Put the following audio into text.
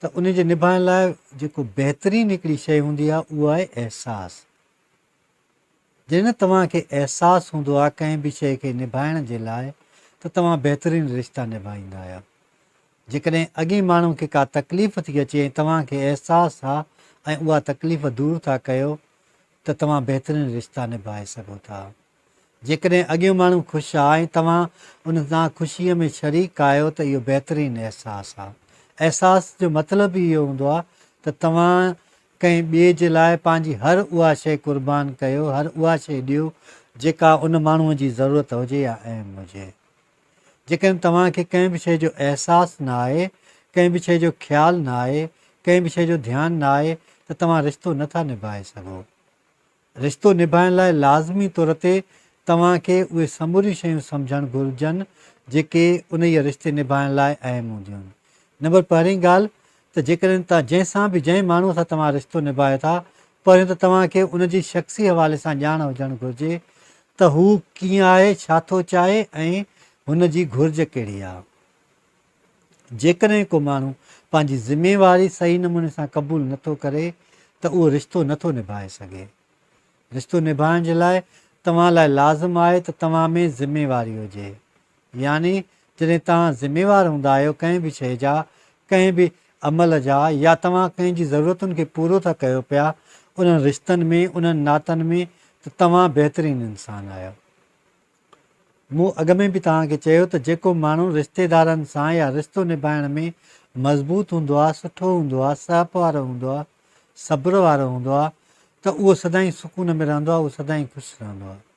ته ان جي نڀائڻ لاء جيڪو بهترين هڪڙي شيء هوندي آهي اهو آهي احساس. جڏهن توهان کي احساس هوندو آهي ڪنهن به شيء کي نڀائڻ جي لاء ته توهان بهترين رشتا نڀائيندا آهيو. جيڪڏهن اڳئين ماڻهو کي ڪا تڪليف ٿي اچي ۽ توهان کي احساس آهي ۽ اها تڪليف دور ٿا ڪيو ته توهان بهترين رشتا نڀائي سگهو ٿا. جيڪڏهن اڳيون ماڻهو خوش آ ۽ توهان انهن سان خوشيء ۾ شريڪ آهيو ته اهو بهترين احساس آ. احساس جو مطلب ئي اهو هوندو آ ته توهان ڪنهن ٻئي جي لاء پنهنجي هر اها شيء قربان ڪيو، هر اها شيء ڏيو جيڪا ان ماڻهوء جي ضرورت هجي يا اهم هجي. جيڪڏهن توهان کي ڪنهن به شيء جو احساس نه آهي، ڪنهن به شيء جو خيال نه آهي، ڪنهن به شيء جو ڌيان نه آهي ته توهان رشتو نه ٿا نڀائي سگهو. رشتو نڀائڻ لاء لازمي طور تي توهان کي اهي سموريون شيون سمجهڻ گهرجن جيڪي انهيء رشتي نڀائڻ لاء اهم هونديون آهن. نمبر پهرين ڳالهه ته جيڪڏهن توهان جنهن سان به جنهن ماڻهوء سان توهان رشتو نڀايو ٿا پهريون ته توهان کي ان جي شخصي حوالي سان ڄاڻ هجڻ گهرجي ته هو ڪيئن آهي، ڇا ٿو چاهي ۽ هن جي گهرج ڪهڙي آهي. جيڪڏهن ڪو ماڻهو پنهنجي ذميواري صحيح نموني سان قبول نٿو ڪري ته اهو رشتو نٿو نڀائي سگهي. رشتو نڀائڻ جي لاء توهان لاء لازم آهي ته توهان ۾ ذميواري هجي. يعني جڏهن توهان ذميوار هوندا آهيو ڪنهن به شيء جا، ڪنهن به عمل جا يا توهان ڪنهن جي ضرورتن کي پورو ٿا ڪيو پيا انهن رشتن ۾، انهن ناتن ۾، ته توهان بهترين انسان آهيو. مون اڳ ۾ به توهان کي چيو ته جيڪو ماڻهو رشتيدارن سان يا رشتو نڀائڻ ۾ مضبوط هوندو آهي، سٺو هوندو آهي، سهپ وارو هوندو آهي، صبر وارو هوندو آهي ته اهو سدائين سڪون ۾ رهندو آهي، اهو سدائين خوش رهندو آهي.